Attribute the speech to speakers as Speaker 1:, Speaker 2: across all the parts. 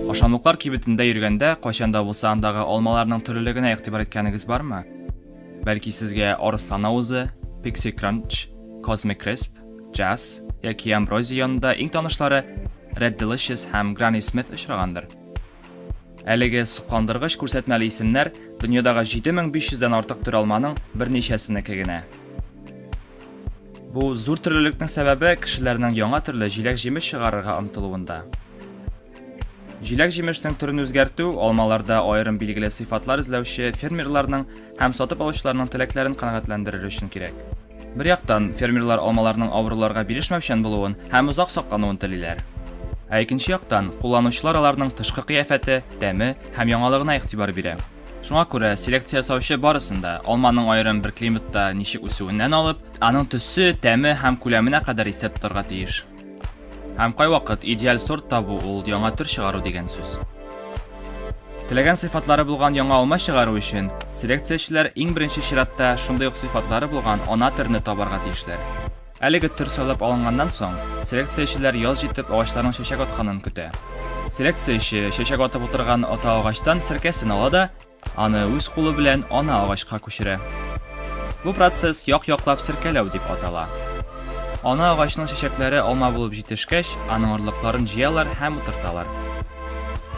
Speaker 1: Ашамлыклар кибетендә йөргәндә, кайчан да булса андагы алмаларның төрлелегенә игътибар иткәнегез бармы? Бәлки сезгә арыслан авызы, пикси кранч, космик кресп, джаз яки амброзия янында иң танышлары Red Delicious һәм Granny Smith очрагандыр. Әлеге сокландыргыч күрсәтмәле исемнәр дөньядагы 7500 дән артык төр алманың берничәсенеке генә. Бу зур төрлелекнең сәбәбе кешеләрнең яңа төрле җиләк-җимеш чыгарырга омтылуында. Җиләк-җимешнең төрен үзгәртү алмаларда аерым билгеле сыйфатлар эзләүче фермерларның һәм сатып алучыларның теләкләрен канәгатьләндерер өчен кирәк. Бер яктан, фермерлар алмаларның авыруларга бирешмәүчән булуын һәм озак саклануын телиләр. Ә икенче яктан, кулланучылар аларның тышкы кыяфәте, тәме һәм яңалыгына игътибар бирә. Шуңа күрә, селекция ясаучы барысын да, алманың аерым бер климатта ничек үсүеннән алып, аның төсе, тәме һәм күләменә кадәр истә тотарга тиеш. Һәм кайвакыт идеаль сорт табу ул яңа төр чыгару дигән сүз. Теләгән сыйфатлары булган яңа алма чыгару өчен селекциячеләр иң беренче чиратта шундый ук сыйфатлары булган ана төрне табарга тиешләр. Әлеге төр сайлап алынганнан соң, селекциячеләр яз җитеп агачларның чәчәк атканын көтә. Селекцияче чәчәк атып утырган ата агачтан серкәсен ала да, Аны үз кулы белән ана агачка күчерә. Бу процесс як-яклап серкәләү дип атала. Ана агачның чәчәкләре алма булып җитешкәч, аның орлыкларын җыялар һәм утырталар.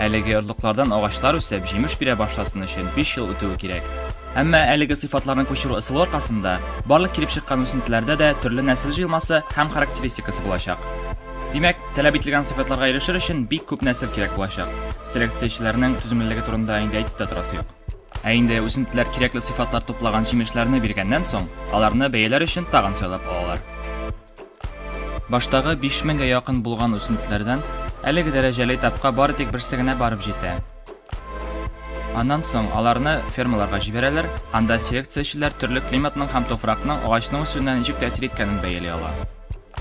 Speaker 1: Әлеге орлыклардан агачлар үсеп, җимеш бирә башласын өчен биш ел үтүе кирәк. Әмма әлеге сыйфатларны күчерү ысулы аркасында барлык килеп чыккан үсентеләрдә дә төрле нәсел җыелмасы һәм характеристикасы булачак. Димәк, таләп ителгән сыйфатларга ирешер өчен бик күп нәсел кирәк булачак. Селекциячеләрнең түземлелеге турында инде әйтеп тә торасы юк. Ә инде үсентеләр кирәкле сыйфатлар туплаган җимешләрне биргәннән соң, аларны бәяләр өчен тагын сайлап алалар. Баштагы 5000 гә якын булган үсентеләрдән әлеге дәрәҗәле этапка бары тик берсе генә барып җитә. Аннан соң аларны фермаларга җибәрәләр, анда селекциячеләр төрле климатның һәм туфракның агачның үсүенә ничек тәэсир иткәнен бәяли ала.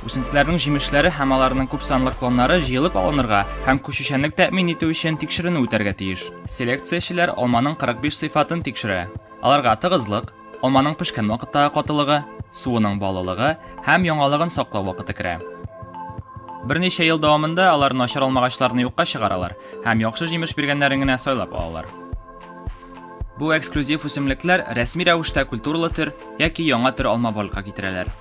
Speaker 1: Үсентеләрнең җимешләре һәм аларның күпсанлы клоннары җыелып алынырга һәм күчүчәнлек тәэмин итү өчен тикшеренү үтәргә тиеш. Селекциячеләр алманың 45 сыйфатын тикшерә, аларга тыгызлык, алманың пешкән вакыттагы катылыгы, суының баллылыгы һәм яңалыгын саклау вакыты керә. Берничә ел дәвамында алар начар алмагачларны юкка чыгаралар һәм яхшы җимеш биргәннәрен генә сайлап алалар. Бу эксклюзив үсемлекләр рәсми рәвештә культуралы төр яки яңа төр алма барлыкка китерәләр.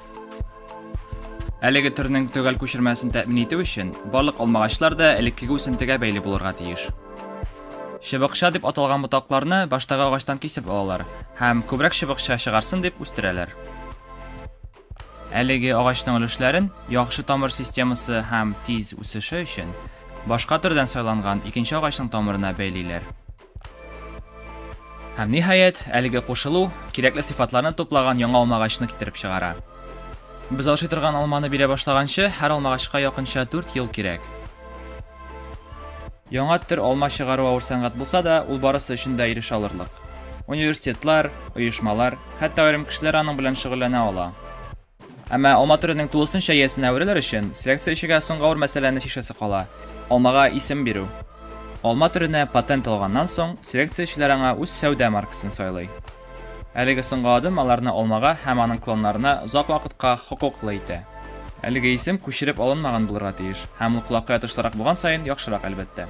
Speaker 1: Әлеге төрнең төгәл күчермәсен тәэмин итү өчен барлык алмагачлар да элеккеге үсентегә бәйле булырга тиеш. Чыбыкча дип аталган ботакларны баштагы агачтан кисеп алалар һәм күбрәк чыбыкча чыгарсын дип үстерәләр. Әлеге агачның өлешләрен яхшы тамыр системасы һәм тиз үсеше өчен башка төрдән сайланган икенче агачның тамырына бәйлиләр. Һәм ниһаять, әлеге кушылу кирәкле сыйфатларны туплаган яңа алмагачны китереп чыгара. Без ашый торган алманы бирә башлаганчы, һәр алмагачка якынча 4 ел кирәк. Яңа төр алма чыгару авыр сәнгать булса да, ул барысы өчен дә ирешә алырлык. Университетлар, оешмалар, хәтта аерым кешеләр аның белән шөгыльләнә ала. Әмма алма төренең тулысынча иясенә әверелер өчен, селекция эчегә соңгы авыр мәсьәләне чишәсе кала, алмага исем бирү. Алма төренә патент алганнан соң, селекция эчеләр аңа үз сәүдә маркасын сайлый. Әлеге соңгы адым аларны алмага һәм аның клоннарына озак вакытка хокуклы итә. Әлеге исем күчереп алынмаган булырга тиеш, һәм ул колакка ятышлырак булган саен яхшырак, әлбәттә.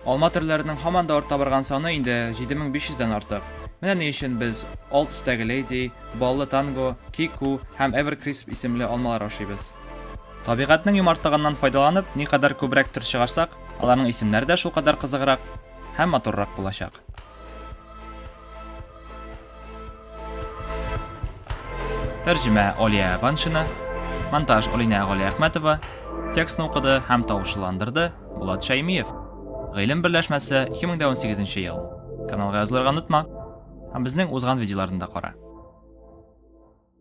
Speaker 1: Алма төрләренең һаман да арта барган саны инде 7500 дән артык. Менә ни өчен без алт төстәге леди, баллы танго, кику һәм эверкрисп исемле алмалар ашыйбыз. Табигатьнең юмартлыгыннан файдаланып, никадәр күбрәк төр чыгарсак, аларның исемнәре дә шулкадәр кызыграк һәм матуррак булачак. Тәрҗемә Алия Ваншина, монтаж Алинә Галиәхмәтова, текстны укыды һәм тавышландырды Булат Шәймиев. Гыйлем берләшмәсе 2018 ел. Каналга язылырга онытма. Һәм безнең узган видеоларны да кара.